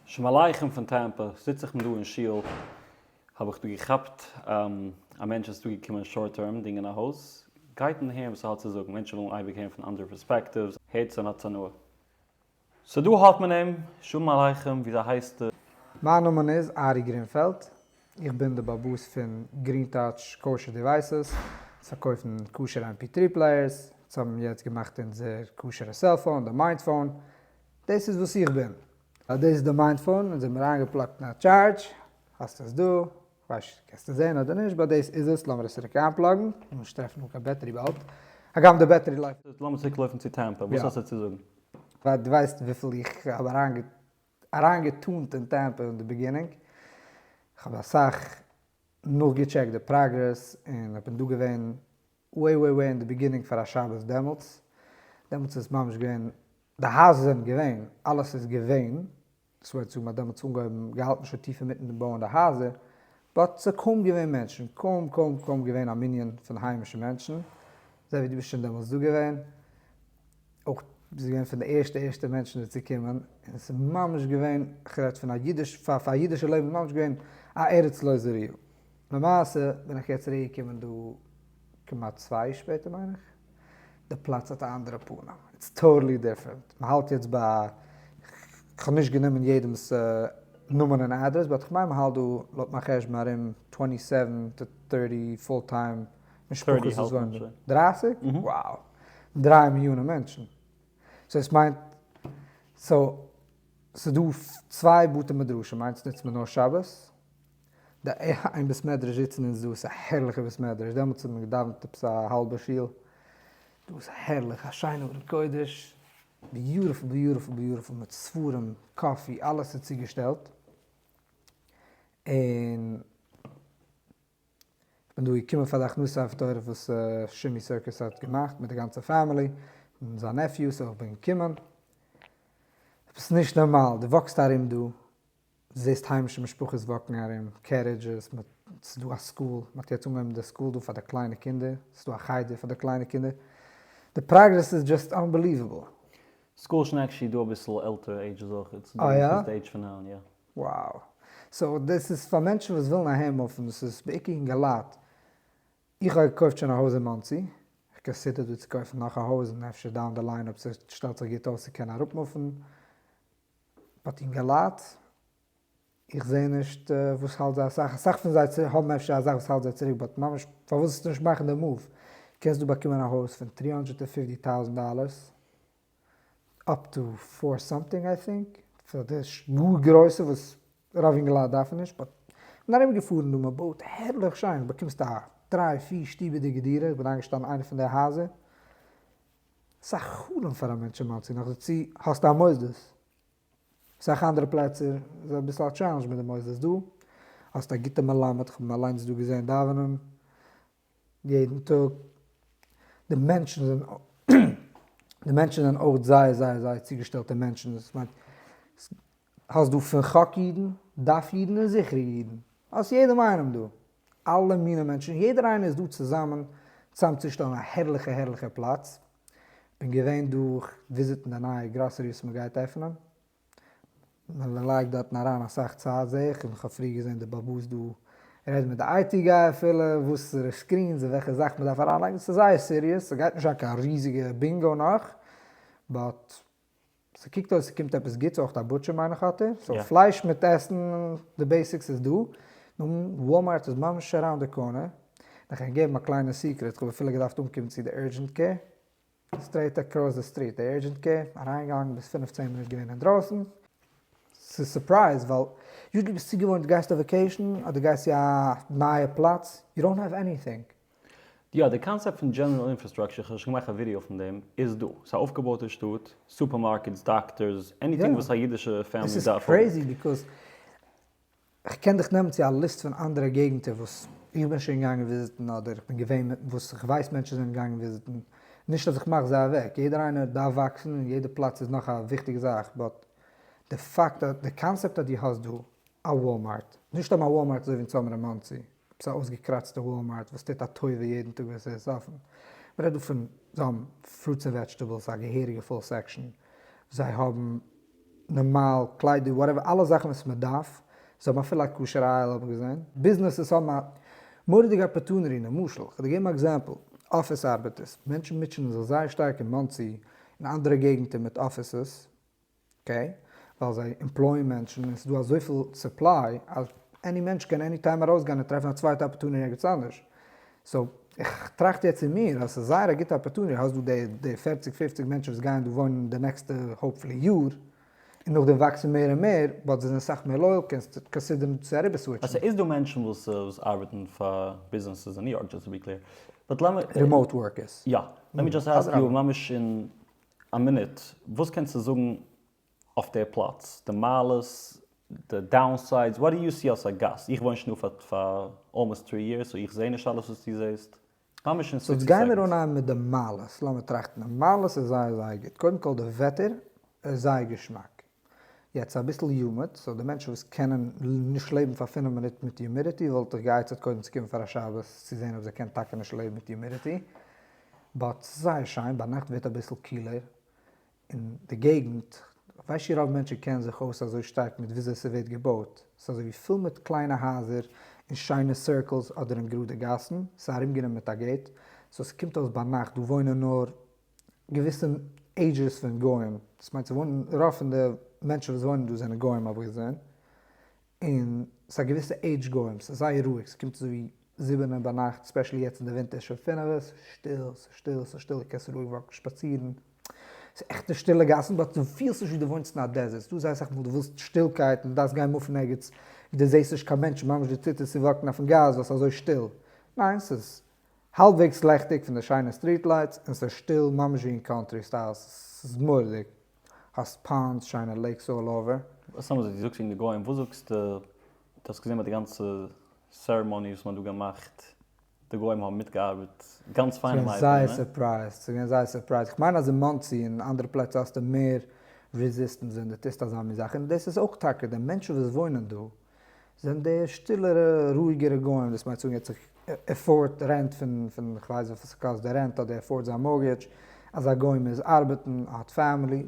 שלמעלייכעם פון טעמפע, זיץ איך מיר דא אין שול, האב איך דא געכאפט א מענטש וואס איז דא געקומען שארט טערם דינגען א הויז, גייט און הערן וואס ער האט צו זאגן, מענטשן ווילן אייביג הערן פון אנדערע פערספעקטיווס, הערטס און האטס הנאה. סאו דא האט מען אים, שלום עליכם, וויאזוי הייסטו? מיין נאמען איז ארי גרינפעלד, איך בין די באבוס פון גרין טאטש קאושער דיווייסעס, אונז פארקויפן כשר'ע עם פי טרי פלעיערס, אונז האבן יעצט געמאכט אונזער כשר'ע סעלפאון, די מיינדפאון, דאס איז וואס איך בין. אז דאס איז די מיינד פאון און זיי האבן מיר איינגעפלאגט אין א טשארדזש, האסט עס דא, כ'ווייס נישט קענסט עס זען אדער נישט באט דאס איז עס, לאמיר עס צוריק איינפלאגן, מוז נישט טרעפן אן קיין בעטערי באלד, הגם די בעטערי לויפט. זאלסט לאמיר צוריק לויפן צו טעמפע, וואס האסטו צו זאגן? ווייל דו ווייסט וויפיל איך האב אריינגעטאנט אין טעמפע אין די ביגינינג, כ'האב אסאך נאכגעטשעקט די פראגרעס און כ'בין דא געווען וועי וועי וועי אין די ביגינינג פאר א שבת דעמאלטס, דעמאלטס איז ממש געווען, די הייזער זענען געווען, אלעס איז געווען, דאס וויל זאגן מ'האט דעמאלטס אנגעהויבן, געהאלטן שוין טיף אינמיטן דעם בויען די הייזער, באט ס'האט קוים געווען מענטשן, קוים קוים קוים געווען א מנין פון היימישע מענטשן, אזוי ווי דו ביסט שוין דעמאלטס דא געווען, אויך ביסט געווען פון די ערשטע ערשטע מענטשן דא צו קומען, און עס איז ממש געווען, כ'רעד פון א אידיש, פאר א אידישע לעבן איז ממש געווען א ארץ לא זרועה. למעשה בין איך יעצט צוריק געקומען דא כמעט צוויי שפעטער מיין איך, די פלאץ האט א אנדערע פנים, איטס טאטעלי דיפרענט, מען האלט יעצט ביי, כ'האב נישט גענומען יעדעמ'ס נאמען און אדרעס, באט כ'מיין מען האלט דא לויט מיין חשבון ארום טווענטי סעווען טו טערטי פול טיים. משפחות איז וואנדע? דרייסיג? wow! דריי מיליאנען מענטשן. סאו עס מיינט סאו ס'איז דא צוויי בתי מדרשים איינס נוצט מען נאר שבת, די איין בית מדרש זיצן אונז דא עס איז א הערליכע בית מדרש דעמאלטס האט מען געדאווענט עפעס א האלבע שול, דא איז הערליך א שיינע ארון קודש, ביוטיפול ביוטיפול ביוטיפול מיט ספרים, קאפי, אלעס איז צוגעשטעלט, און. כ'בין דא געקומען פאר די הכנסת אב תורה וואס שימי סירקוס האט געמאכט מיט די גאנצע פאמילי און זיין נעפיו, סאו כ'בין געקומען. עפעס נישט נארמאל, דו וואקסט ארום דא, דו זעסט היימישע משפחות וואקן ארום, קערידזשעס, ס'איז דא א סקול, מ'האט יעצט אנגעהויבן די סקול דא פאר די קליינע קינדער, ס'איז דא א חדר פאר די קליינע קינדער, די פראגרעס איז דזשאסט אנבעליוועבל. סקול שנעקשי איז דא אביסל עלטערע עידזשעס אויכעט, ס'איז דא פון די עידזש פון נײַן, יא. וואו. סאו דאס איז פאר מענטשן וואס ווילן א היים אויפן, ס'איז בעיקר אינגעלייט, איך האב געקויפט שוין א הויז אין מאנסי, איך קאנסידער דא צו קויפן נאך א הויז און אפשר דאון די ליין אויב ס'שטעלט זיך גוט אויס צו קענען אראפמופן, באט אינגעלייט, איך זעה נישט וואס האלט זיי אסאך, אסאך פון זיי האבן אפשר א זאך וואס האלט זיי צוריק באט ממש פארוואס נישט מאכן די מאוו, קענסט דא באקומען א הויז פון טרי האנדרעט ענד פיפטי טאוזענט דאלערס. אפטו פאר סאמטינג איי טינק, פאר די גאר גרויסע וואס רוב אינגעלייט דארפן נישט, באט כ'בין ארום געפארן דא מען בויט הערליך שיין, באקומסט א דריי פיר שטובעדיגע דירה, איך בין איינגעשטאנען איינע פון די הייזער, ס'איז א חלום פאר א מענטש אין מאנסי, נאכדערצו האסטו א מוסדות, סאך אנדערע פלעצער איז אביסל א טשעלענדזש מיט די מוסדות, דא האסטו א גוטע מלמד, כ'בין אליינס דא געזען דאווענען, יעדן טאג, די מענטשן זענען די מענטשן זענען אויך זייער זייער זייער צוגעשטעלטע מענטשן, דאס מיינט האסט דא פון חק אידן, דף אידן און זכרי אידן, האסט יעדעם איינעם דא, אלע מיני מענטשן, יעדער איינער איז דא צוזאמען צאמצושטעלן א הערליכע הערליכע פלאץ, כ'בין געווען דא, כ'וויזיטן די נייע גראסערי וואס מ'גייט עפענען. מען לייגט דארטן אריין אסאך צייט זעה איך, און איך האב פריער געזען די באבאס דא רעדן מיט די איי טי גאי אפילו וואסערע סקרינס און וועלכע זאך מען דארף אריין לייגן, ס'איז זייער סיריעס, ס'גייט נישט זיין קיין ריזיגע בינגאו נאך, באט ס'קוקט אויס ס'קומט עפעס גוטס, אויך א בוטשער מיין איך האט ער, סאו פלייש מיט עסן די בעסיקס איז דא, נו וואלמארט איז ממש אראונד די קארנער, און איך קען געבן א קליינע סיקרעט, כ'האב אפילו געדארפט אנקומען צו די אורדזשענט קעיר. סטרעיט עקראס די סטריט, די עירדזשענט קעיר, אריינגעגאנגען ביז פֿינף צען מינוט געווען אינדרויסן. ס'איז סורפרייז ווייל יו ט ביסט צוגעוואוינט דו גייסט אויף וועקעישן אדער דו גייסט צו א נייע פלאץ, יו דאונט האוו עניטינג. יא, די קאנסעפט פון דזשענעראל אינפראסטראקשער, כ'האב שוין געמאכט א ווידיאו פון דעם, איז דא. ס'איז א אויפגעבויטע שטאט, סופערמארקעטס, דאקטארס, עניטינג וואס א אידישע פעמילי דארף האבן. איך קען דיך נעמען צו א ליסט פון אנדערע געגנטער וואס איך בין שוין געגאנגען וויזיטן אדער איך בין געווען וואס איך ווייס מענטשן זענען געגאנגען וויזיטן, נישט אז איך מאך זיי אוועק, יעדער איינער דארף וואקסן און יעדע פלאץ איז נאך א וויכטיגע זאך, באט די פאקט אז די קאנסעפט אז דו האסט דא א וואלמארט, נישט סתם א וואלמארט אזוי ווי אין סאמער אין מאנסי, עפעס א אויסגעקראצטע וואלמארט וואס טוט א טובה יעדן טאג וואס עס איז אפען, מ'רעדט דא פון זיי האבן פרוטס און וועדזשטעבלס א געהעריגע פול סעקשאן, זיי האבן נארמאל קליידער וואטעווער אלע זאכן וואס מ'דארף, זיי האבן אפילו א כשר אייל האב איך געזען, ביזנעסעס האבן א מורא'דיגע אפערטונעטי, למשל כ'וועל דיר געבן א עקזעמפל, אפיס ארבעטערס, מענטשן מוטשענען זיך זייער שטארק אין מאנסי און אנדערע געגנטער מיט אפיסעס, אקעי, ווייל זיי עמפלויען מענטשן און ס'דא אזויפיל סופליי אז עני מענטש קען עני טיים ארויסגיין און טרעפן א צווייטע אפערטוניטי ערגעץ אנדערש. סאו, איך טראכט יעצט אין מיר אז ס'איז זייער א גוטע אפערטוניטי, האסט דא די די פערציג פופציג מענטשן וואס גייען דא וואוינען די נעקסטע האפפולי יאר, און נאכדעם וואקסן מער און מער, באט זיי זענען סאך מער לויעל, קענסט קאנסידערן צו אריבער סוויטשן. ס'איז דא מענטשן וואס וואס ארבעטן פאר ביזנעסעס אין ניו יארק, דזשאסט טו בי קלעיר, באט לאמיר. רימאוט ווארקערס. יא, לעט מי דזשאסט אסק יו ממש אין. א מינוט, וואס קענסטו זאגן אויף דער פלאץ? די מעלות? די דאונסיידס? וואט דו יו סי אלס א גאסט? איך וואוין שוין דא פאר אלמאסט טרי יערס סאו איך זעה נישט אלעס וואס דו זעסט. ממש אין סאו סיקסטי גיימיר סעקאנדס. אנהייבן מיט די מעלות, לאמיר טראכטן. די מעלות איז זייער זייער גוט. קודם כל די וועטער איז זייער געשמאק. יעצט אביסל יומעט, סאו די מענטשן וואס קענען נישט לעבן פאר פֿינף מינוט מיט יומידיטי וואלט איך גע'עצה'ט קודם צו קומען פאר א שבת צו זעהן אויב זיי קענען טאקע נישט לעבן מיט יומידיטי, באט ס'איז זייער שיין, ביינאכט ווערט אביסל קילער און די געגנט, כ'ווייס שוין רוב מענטשן קענען זיך אויס אזוי שטארק מיט וויאזוי ס'ווערט געבויט, ס'איז אזוי ווי פול מיט קליינע הייזער אין שיינע סירקלס אדער אין גראדע גאסן, ס'איז ארומגענומען מיט א געיט, סאו ס'קומט אויס ביינאכט דא וואוינען נאר געוויסע עידזשעס פון גוים, דאס מיינט ס'וואוינען רוב פון די מענטשן וואס וואוינען דא זענען גוים האב איך געזען, און ס'איז א געוויסע עידזש גוים, ס'איז זייער רואיג, ס'קומט אזויווי זיבענע ביינאכט, ספעשעלי יעצט אין די ווינטער שוין פינעווע, ס'איז שטיל, ס'איז שטיל, ס'איז שטיל, דו קענסט רואיג וואקן שפאצירן, ס'איז עכטע שטילע גאסן, באט דו פילסט נישט ווי דו וואוינסט אין א דעזערט, ס'דא זייער אסאך מאל דו ווילסט שטילקייט און דו דארפסט גיין מופן ערגעץ ווי דו זעסט נישט קיין מענטשן, ממש דיר טוט עס צו וואקן אויפן גראז ווייל ס'איז אזוי שטיל, ניין ס'איז האלבוועגס לעכטיג פון די שיינע סטריט לייטס און ס'איז שטיל ממש ווי אין קאנטרי סטייל ס'איז מורא'דיג האסט פאלמס שיינע לעיקס אלל אווער. וואס האבן זיי? דו זאגסט וועגן די גוים, וואס זאגסטו? דו האסט געזען ביי די גאנצע סערעמאני וואס מ'האט דא געמאכט, די גוים האבן מיטגעארבעט גאנץ פיין און ליידער, ניין? ס'איז געווען זייער סורפרייזד, ס'איז געווען זייער סורפרייזד, איך מיין אז אין מאנסי און אנדערע פלעצער האסטו מער רעזיסטענס ווען דו טוסט אזא מין זאך, און דאס איז אויך טאקע די מענטשן וואס וואוינען דא, זענען די שטילערע רואיגערע גוים דאס מיינט צו ער האט זיך עפארד רענט פון פון כ'ווייס וויפיל ס'קאסט די רענט אדער עפארד זיין מארגעדזש אזא גוי מוז ארבעטן האט פעמילי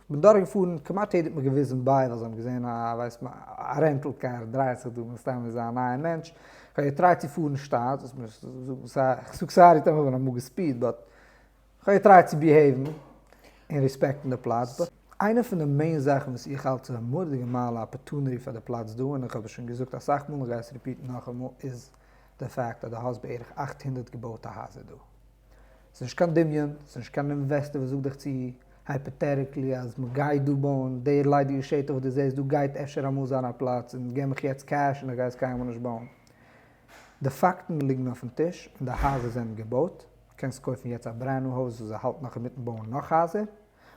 כ'בין דורך געפארן כמעט יעדע האט מיר געוויזן ביי ווייל זיי האבן געזעהן א ווייסט מ א רענטל קאר דרייעט זיך דא מן הסתם איז א נייע מענטש כ'האב געטרייט צו פארן שטאט זאגסט מיר כ'זאג סארי טאמער כ'בין אמאל געספיד באט כ'האב געטרייט צו ביהעיוון און רעספעקטן די פלאץ, באט איינע פון די מעין זאכן וואס איך האלט צו א מורדיגע מעלה אפערטוניטי פאר די פלאץ דא, און איך האב עס שוין געזאגט אסאך מאל און גיי עס ריפיטן נאכאמאל, איז די פאקט אז דו האסט בערך אַכט הונדערט געבויטע הייזער דא. ס'איז נישט קיין דמיון, ס'איז נישט קיין אינוועסטער וואס זאגט דיך צו הייפאטעטיקלי אז מ'גייט דא בויען, די ערליידיגע שטח וואס דו זעסט דא גייט אפשר אמאל זיין א פלאץ, און גיב מיך יעצט קעש און איך גיי עס קיינמאל נישט בויען. די פאקטן ליגן אויפן טיש און די הייזער זענען געבויט, קענסט קויפן יעצט א ברענד ניו הויז וואס זיי האלטן נאך אינמיטן בויען נאך הייזער,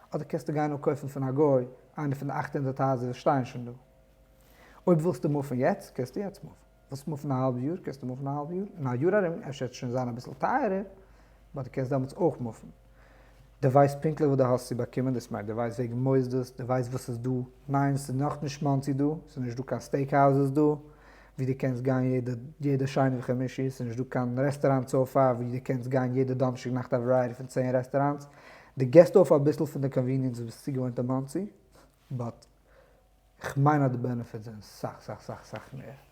אדער קענסטו גיין און קויפן פון א גוי איינע פון די אַכט הונדערט הייזער וואס שטייען שוין דא. אויב ווילסטו מופן יעצט קענסטו יעצט מופן, ווילסט מופן א האלב יאר קענסטו מופן א האלב יאר, אין א יאר ארום אפשר וועט עס שוין זיין אביסל טייערער באט די קענסט דעמאלטס אויך מופן. די ווייסט פונקטליך וואס די האסט צו באקומען דאס מיינט די ווייסט וועגן מוסדות די ווייסט וואס איז דא ניין ס'איז נאך נישט מאנסי דא ס'איז נישט דא קיין סטעיק האוזעס דא ווי די קענסט גיין יעדע יעדע שני וחמישי ס'איז נישט דא קיין רעסטעראנטס אויף א ווי די קענסט גיין יעדע דאנערשטאג נאכט א ווערייעטי פון צען רעסטעראנטס די געסט אויף אביסל פון די קאנוויניענס וואס ביסט צוגעוואוינט אין מאנסי באט כ'מיין אז די בענעפיטס זענען סאך סאך סאך סאך מער.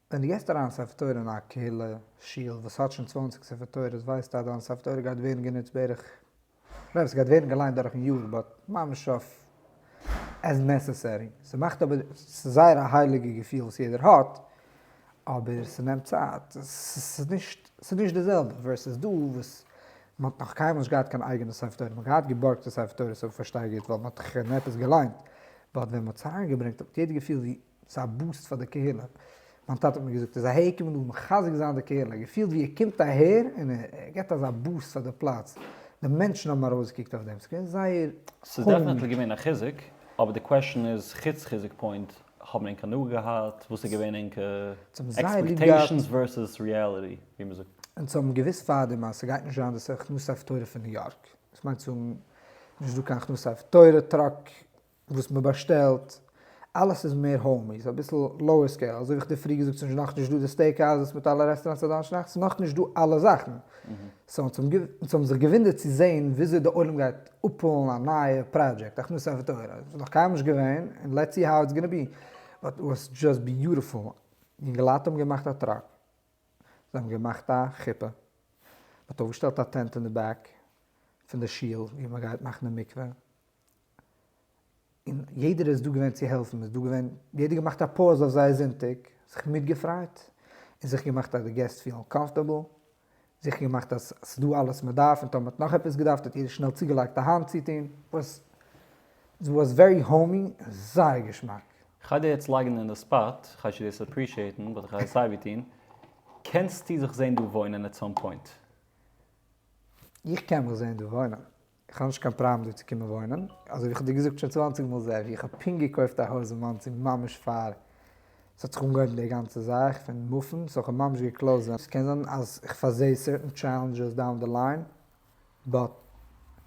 ווען דו געסט אריין ספר תורה אין א קהילה שול וואס האט שוין צוואַנציק ספר תורות ווייסטו אז דיין ספר תורה גייט ווערן גענוצט בערך, נאר עס גייט ווערן געליינט דורכן יאר באט ממש אויף עז נעסעסערי, ס'מאכט אבער, ס'איז זייער א הייליגע געפיל וואס יעדער האט, אבער ס'נעמט צייט, ס'איז נישט, ס'איז נישט די זעלבע ווערסעס דא וואס מ'האט נאך קיינמאל נישט געהאט קיין אייגענע ספר תורה, מ'האט געהאט געבארגטע ספר תורות אויב איך פארשטיי גוט ווייל מ'האט דאך שוין עפעס געליינט, באט ווען מ'האט צוזאמגעברענגט האט יעדער געפילט ווי ס'איז א בוסט פאר די קהילה, מיין טאטע האט מיר געזאגט אז אהער קומען דא מחזק זיין די קהילה, געפילט ווי ער קומט אהער און ער גיבט אזא בוסט פאר די פלאץ, די מענטשן האבן ארויסגעקוקט אויף דעם, ס'איז געווען זייער ס'איז דעפענעטלי געווען א חיזוק, אבער די קוועשאן איז, חוץ חיזוק פוינט, האבן ענק הנאה געהאט, וואס איז געווען ענקע עקספעקטעישאנס ווערסעס ריעליטי, ווי מען זאגט. אונז האבן געוואוסט פארדעם אז ס'גייט נישט זיין דאס הכנסה אויף תורה פון ניו יארק, דאס מיינט צו האבן נישט דא קיין הכנסה אויף תורה טראק, וואס מען באשטעלט, אלעס איז מער האומי, ס'איז אביסל לאוער סקעיל, אזוי ווי איך האב דיר פריער געזאגט ס'איז נאכנישט דא די סטעיק האוזעס מיט אלע רעסטעראנטס א דאנערשטאג נאכט, ס'איז נאכנישט דא אלע זאכן, סאו אונז האבן זיך געוואונדערט צו זען וויאזוי די עולם גייט אפהאלן א נייע פראדזשעקט הכנסת ספר תורה, עס איז נאך קיינמאל נישט געווען, און לעטס סי האו איטס גאנא בי, באט איט וואס דזשאסט ביוטיפול, יונגעלייט האבן געמאכט א טראק, זיי האבן געמאכט א חופה, מען האט אויפגעשטעלט א טענט אין די בעק פון די שול ווי מען גייט מאכן די מקווה. און יעדער איז דא געווען צו העלפן, מ'איז דא געווען, יעדער געמאכט א פאוז אויף זייער זונטאג, זיך מיטגעפריידט, און זיך געמאכט אז די געסט פילן קאמפארטעבל, זיכער געמאכט אז ס'איז דא אלעס מ'דארף, און טאמער מ'האט נאך עפעס געדארפט האט יעדער שנעל צוגעלייגט א האנט צו טון, וואס איט וואס ווערי האומי און זייער געשמאק. כ'גיי דיר יעצט לייגן אין די ספאט, כ'הייס דיר דאס אפרישיעטן באט כ'גיי עס סייווי טון, קענסטו זיך זען דא וואוינען עט סאם פוינט? איך קען מיך זען דא וואוינען. איך האב נישט קיין פראבלעם דא צו קומען וואוינען, אזוי ווי איך האב דיר געזאגט שוין צוואנציג מאל זעהט ווי איך האב פונקט געקויפט א הויז אין מאנסי ממש פאר ס'האט זיך אנגעהויבן די גאנצע זאך פון מופן, סאו איך האב ממש געקלאוזט ווען ס'קען זיין אז איך פארזעה סערטען טשעלענדזשעס דאון די ליין באט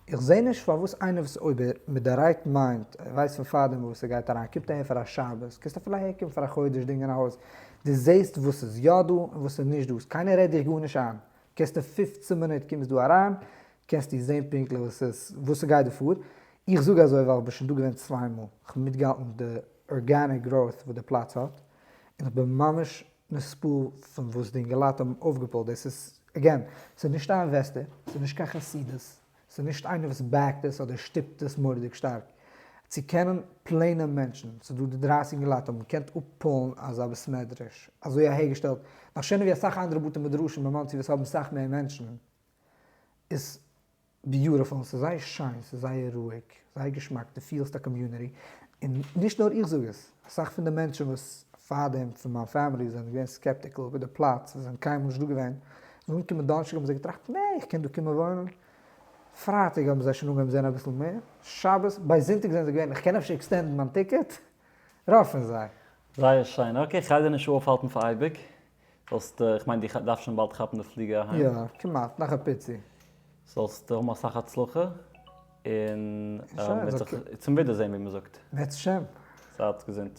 איך זעה נישט פארוואס איינער וואס אויב ער מיט די רייט מיינד ער ווייסט פון פארדעם וואס ער גייט אריין קומט אהער פאר א שבת קענסט אפילו אהער קומען פאר א חודש דינגען א הויז דו זעהסט וואס איז יא דא און וואס איז נישט דא קיינער רעדט דיך גארנישט איין קענסט אין פֿופֿצן מינוט קומסט דא אריין קענסטו זעהן פונקטליך וואס עס וואס ס'גייט דא פאר, איך זאג אזוי ווייל כ'בין שוין דא געווען צוויי מאל, כ'האב מיטגעהאלטן די ארגעניק גראוט וואס די פלאץ האט, און כ'בין ממש נספעל פון וואס די אינגעלייט האבן אויפגעפולט, דאס איז, עגעין, ס'איז נישט א אינוועסטער, ס'איז נישט קיין חסידות, ס'איז נישט איינער וואס בעקט עס אדער שטופט עס מורא'דיג שטארק, צו קענען פלעינע מענטשן, ס'איז דא די דרייסיג אינגעלייט האבן געקענט אפפולן אזא בית מדרש, אזוי אהערגעשטעלט, נאך שענער ווי אסאך אנדערע בתי מדרשים אין מאנסי וואס האבן סאך מער מענטשן. איז ביוטעפול, ס'איז זייער שיין, ס'איז זייער רואיג, זייער געשמאק, דו פילסט א קאמיוניטי, און נישט נאר איך זאג עס, אסאך פון די מענטשן וואס פארדעם פון מיין פעמילי זענען געווען סקעפטיקל איבער די פלאץ, זיי זענען קיינמאל נישט דא געווען, נאכן אנקומען דאנערשטאג האבן זיי געטראכט, נע, איך קען דא קומען וואוינען, פרייטאג האבן זיי שוין אנגעהויבן זען אביסל מער, שבת, ביי זונטאג זענען זיי געווען, איך קען אפשר עקסטענדן מיין טיקעט? רוב פון זיי. זייער שיין, אקעי, כ'גיי דיר נישט אויפהאלטן פאר אייביג, זאלסט, איך מיין דו דארפסט שוין באלד כאפן די פליגער אהיים. יא, כמעט, נאך א פיצי. זאלסט האבן אסאך הצלחה, און מ'וועט זיך צום ווידערזען ווי מ'זאגט. בעזהשם. זייט געזונט.